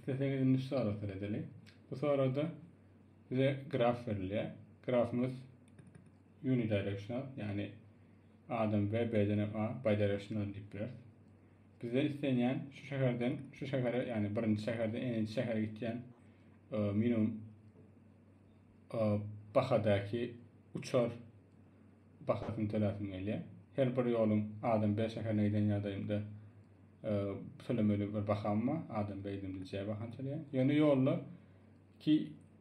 Isleseňiz indi şu sagatlary edeliň. Bu saglarda bize graf berilýär. Grafymyz unidirectional, ýagny A-dan B, B-den hem A, bidirectional diýip bileris. Bizden islenýän şu şäherden şu şähere, ýagny birinji şäherden n-nji şähere gitýän e, minimum e, bahadaky uçar Bahasyny töläsiň gelýär. Her bir ýoluň Adam Bey şäherine giden ýagdaýymda tölemeli bir baham bar. Adam Bey gidimde J bahany töleýän. Ýöne ýolda ki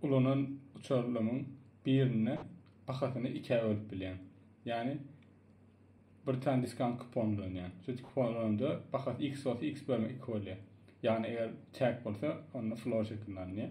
ulanan uçarlymyň birinde bahasyny ikä bölüp bilýän. Ýani bir tane diskant kupon ulanýan. Şu kupon ulananda bahasy X bolsa X bölme 2 bolýar. Ýani eger çäk bolsa onda flor şeklinde alynýar.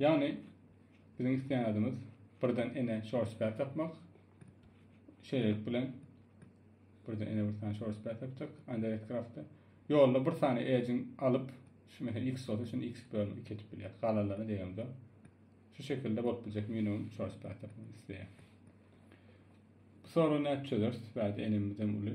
Ýagny biziň isleýän zadymyz birden ene şorspä tapmak. Şeýlelik bilen birden ene bir sany şorspä tapjak Anderet Kraftda. Ýolda bir sany edgin alyp, şu mesela x bolsa şuny x bölüp 2 etip bilýär. Galanlaryny diýemde şu şekilde bolup biljek minimum şorspä tapmak isleýär. Bu soragy nädip çözeris? Bärde enemizden uly.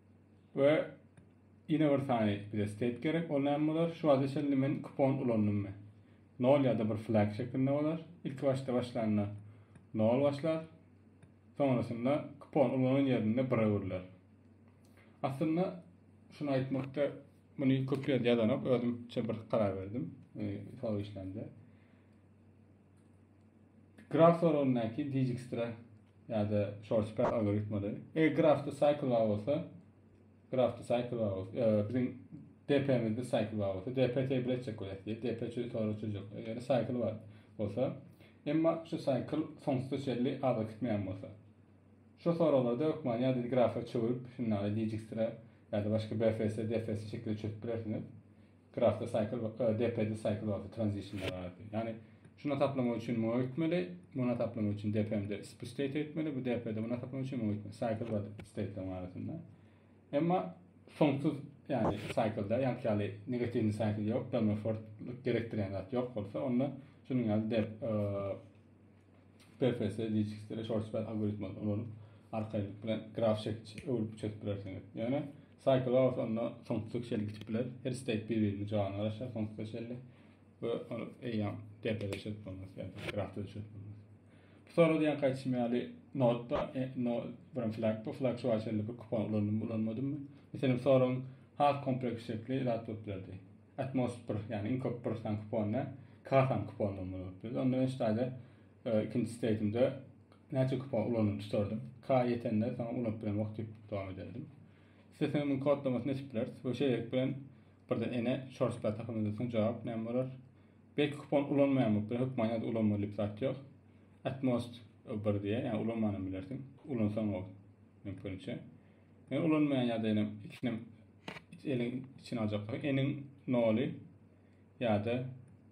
We ýene bir sany bize state gerek. Ol näme bolar? Şu wagta çenli men kupon ulandymy? Nol ýa-da bir flag şeklinde bolar. Ilki başda başlanda nol başlar. Soňrasynda kupon ulanan ýerinde bir öwrüler. Aslynda şuny aýtmakda muny köp ýerde ýazanok. Özümçe bir karar berdim. Ee, Sol işlende. Graf soragyndaky Dijkstra ýa-da Şorçpel algoritmleri. Eger grafda cycle bar bolsa, grafda cycle bar bolsa, biziň DP-mizde cycle bar bolsa, DP tebigy etjek bolýar diýip, DP çözüp sorag çözjek bolýar. Eger cycle bar bolsa, emma şu cycle soňsuza çenli aza gitmeýän bolsa. Şu soraglarda hökman ýa-da grafa çöwrüp, şunda Dijkstra ýa-da başga BFS, DFS şekilde çözüp bilersiňiz. Grafda cycle we DP-de cycle wagty transitionlar bardy. Ýagny şuna taplamak üçin muňa öýtmeli, muna taplamak üçin DPM-de bu state öýtmeli, bu DP-de muna taplamak üçin muňa öýtmeli. Cycle we stateleriň arasynda. Emma soňsuz ýagny cycle-da ýaňky ýaly negatiwny cycle ýok, dönme fortlyk gerekdirýän zat ýok bolsa, onda şunuň ýaly dep PFS, DHX-de short span algoritmi ulanyp arkaýynlyk bilen graf çekiç öwrüp çözüp bilersiňiz. Ýöne Saýkla bolsa onda soňsuza çenli gidip biler. Her steýk bir-biriniň janyna garaşýar soňsuza çenli. We ol eýýäm depede çözüp bolmaz, ýa-da grafda çözüp bolmaz. Bu sorag diýen gaýtşym ýaly notda, e, no, birim flag, bu flag şu wagtça bir kupon ulandymy, ulanmadymmy? Meselem, soragyň has kompleks şekli zat bolup bilerdi. Atmos bir, ýagny iň köp bir san kupon ne, k san kupon bolmaly bolup bilerdi. Onda men şu taýda Ikinji steýtimde näçe kupon ulandygyny tutardim. K-a ýetende saňa ulanyp bilen wagt diýip dowam ederdim. Islesem muny kodlamasyny eşip bileris we şeýlelik bilen birden ene şors platahymyz edilseň jogap näme bolar? Belki kupon ulanmaýan bolup biler, hökman ýa-da ulanmaly diýip zat ýok. At most bir diýýär, ýagny ulanmanam bilersiň. Ulansaňow mümkiniçe. Men ulanmaýan ýa-da ýene ikisinem eliň içine aljaklygy, eniň noly ýa-da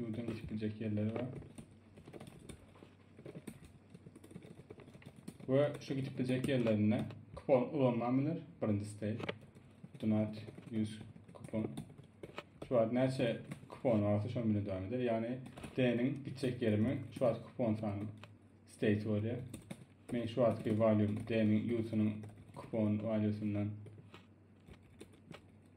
Ýurduň geçip biljek ýerleri bar. We şu geçip biljek ýerlerinde kupon ulanman biler. Birinji stay. Donat 100 kupon. Şu wagt näçe kupon barsa şoň bilen dowam eder. Ýagny D-niň gitjek ýerimi şu wagt kupon sany stay bolýar. Men şu wagtky valýum D-niň ýurdunyň kupon walýusyndan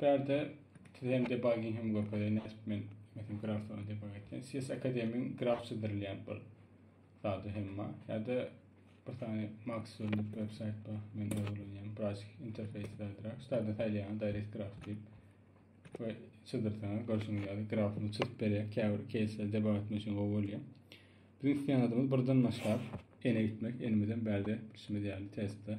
Bärde TM debugging hem görkezýär, nädip men metin grafsony debug etýän. CS Akademyň graf çyzdyrylýan bir zady hem bar. Ýa-da bir sany Max diýip web saýt bar. Men öwrenýän biraz interfeýs bäldräk. Şulardan saýlaýan direct graf diýip we çyzdyrsaňyz görşüňiz ýaly grafyny çyzyp berýär. Käbir case debug etmek üçin gowy bolýar. Biziň isleýän adymyz birden başlap ene gitmek. Enimizden bärde bilşimiz ýaly testde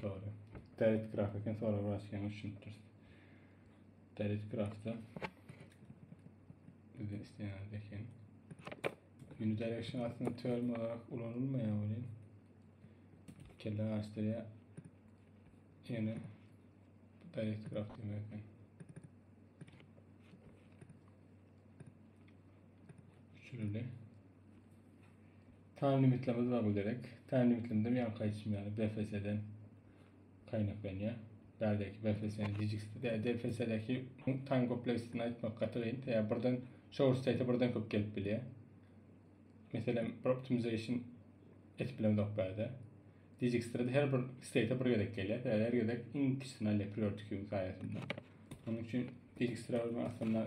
Sory. Täret graf eken sory biraz ýaňy düşünipdiris. Täret grafda bizden isleýän eken. Unidirection aslında term olarak ulanılmaýar welin kelle açdyrýar. Ýöne täret graf demek eken. Şöyle. Taým limitlemez bar bu derek. Taým limitlemede ýaňky aýdyşym ýaly BFS-den gaýnaklanýar. Bärdäki BFS-niň gijiksidi. Tä DFS-däki taým kompleksini aýtmak gaty gyn. Tä birden shower state birden köp gelip bilýär. Meselem bir optimization etip bilemzok bärde. Dijikstra-da her bir state bir gezek gelýär. Tä her gezek iň kiçisini alýar priority queue-nyň saýasynda. Onuň üçin dijikstra aslynda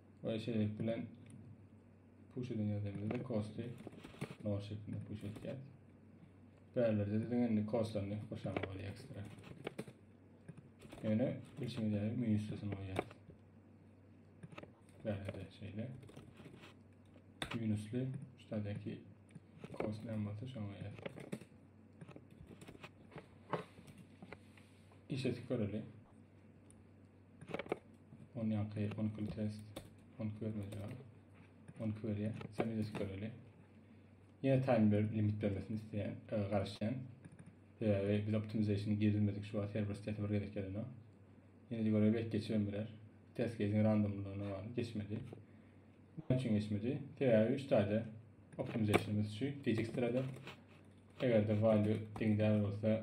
Ve şeýlelik bilen puş eden ýerlerimizde kosty nol şeklinde puş etýäs. Bärlerde de indi kostlaryny goşamak bolýar ekstra. Ýöne bilşiňiz ýaly müň üstesini goýýas. Bärlerde şeýle. Minusly şuradaki kost näme bolsa şoňa goýýas. İşe tüköreli. 10 ýaňky 10 kül test 10 kül bermejek 10 kül berýär sen öýde göreli ýene time ber limit bermesini isteýän e, garaşýan sebäbi biz optimization girizmedik şu wagt server sitesi bir gezek gelene ýene de göreli belki geçirim biler test case'in randomlygyna bagly geçmedi näme üçin geçmedi sebäbi 3 taýda optimizationymyz şu gecikdiradi eger de value deňdäl bolsa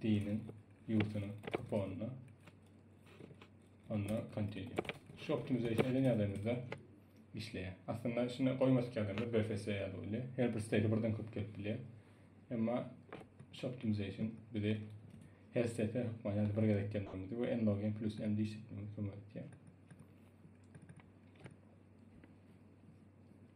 Diniň ýurdunyň kuponuna onda continue. Şu optimization eden ýagdaýymyzda işleýär. Aslynda şunda goýmadyk ýagdaýymyzda BFS ýaly bolýar. Her bir state birden köp gelip bilýär. Emma şu optimization bize her state hökman ýa-da bir gezek gelmemizi we n login plus n diýip kömek etýär.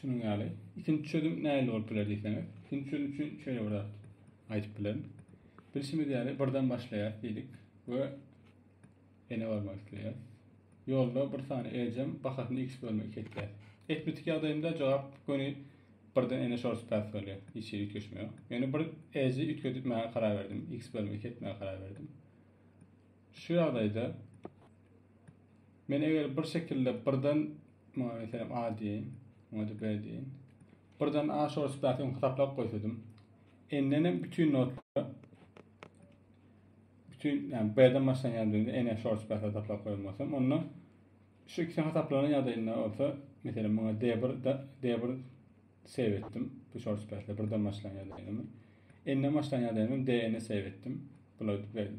Şunuň ýaly. Ikinji çözüm nähili bolup biler diýseňiz, ikinji çözüm üçin şeýle bir zat aýdyp bilerin. Bilşimiz ýaly birden başlaýas diýdik we ene barmak isleýäs. Ýolda bir sany ejem bahasyny x bölme 2 etýär. Etmetik ýagdaýynda jogap göni birden ene şorus päs bolýar. Hiç ýeri üýtgeşme ýok. Ýöne bir eji üýtgetmäge karar berdim. x bölme 2 etmäge karar berdim. Şu ýagdaýda Men eger bir şekilde birden muňa meselem A diýeýin, muňa-da B diýeýin. Birden A şor spasiýasyny hasaplap goýsadym, N-den hem bütin notlara bütin, ýagny B-den başlan ýagdaýynda N-e şor spasiýa hasaplap goýan bolsam, onda şu ikisi hasaplanan ýagdaýynda bolsa, meselem, muňa D1 D1 save etdim. Bu şor spasiýa birden başlan ýagdaýynda. N-den başlan ýagdaýynda D-ni save etdim. Bular beýle.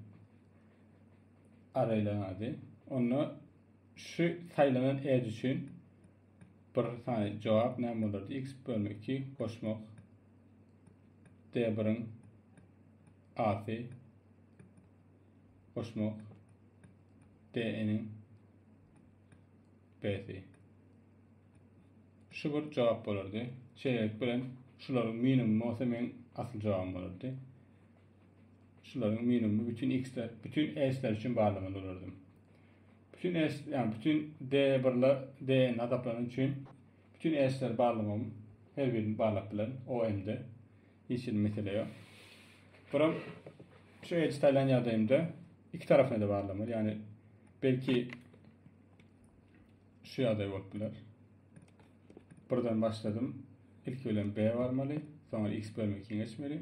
arraýlaryň ady. Onda şu saýlanan edge üçin bir sany jogap näme bolardy? x bölme 2 goşmak d1-iň asy goşmak d-niň b-si. Şu bir jogap bolardy. Şeýlelik bilen şularyň minimum bolsa men asyl jogabym bolardy. Şularyň minimumy bütin X-ler, bütin S-ler üçin barlygynda durardym. Bütin S, ýa bütin D1-ler, DN hasaplanan üçin bütin S-ler barlygym her birini barlap bilen OM-de. Hiç hili mesele ýok. Buram şu edit aýlan ýagdaýymda iki tarapyny da barlagym bar. Ýagny belki şu ýagdaý bolup biler. Birden başladym. Ilki bilen B barmaly, soňra X bölme giňeşmeli.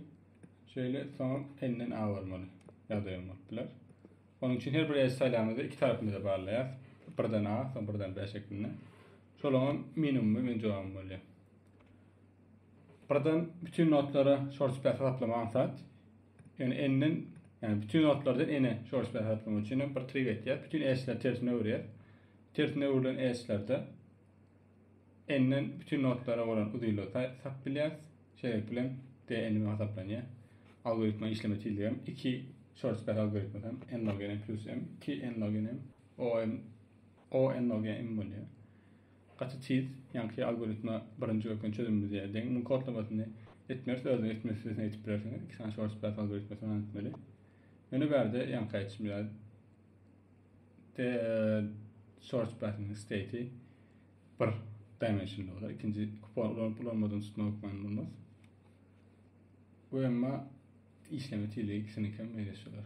Şeýle, soňam N-den A barmaly ýagdaýym bolup biler. Onuň üçin her bir eje saýlamyzda iki tarapymyza barlaýas. Birden A, soň birden B şeklinde. Şolaňam minimumy men jogabym bolýar. Birden bütün notlara short space hasaplama aňsat. Ýöne N-den, ýani bütün notlardan N-e short space hasaplama üçin bir trik etýär. Bütün eşler tersine öwürýär. Tersine öwrülen eşlerde n-den bütin notlara bolan uzynlygy tapyp bilýäris. Şeýlelik bilen d n hasaplanýar. Algoritma işleme tizligi hem 2 Şorstberg algoritmasy hem n log n plus m 2 n log n m o m o n log n m bolýar. Gaty tiz, ýaňky algoritma birinji görken çözümimiz ýa deň muň kodlamasyny etmeris, özüňiz etme sürüsini etip bilersiňiz. 2 sany Şorstberg algoritmasyny etmeli. Ýöne bärde ýaňky aýdyşym ýaly De, search button state bir dimensionly bolar. İkinci kupon ulanyp ulanmadan tutmak hükmany bulmaz. Bu emma işleme tizligi ikisini hem meýleşdirer.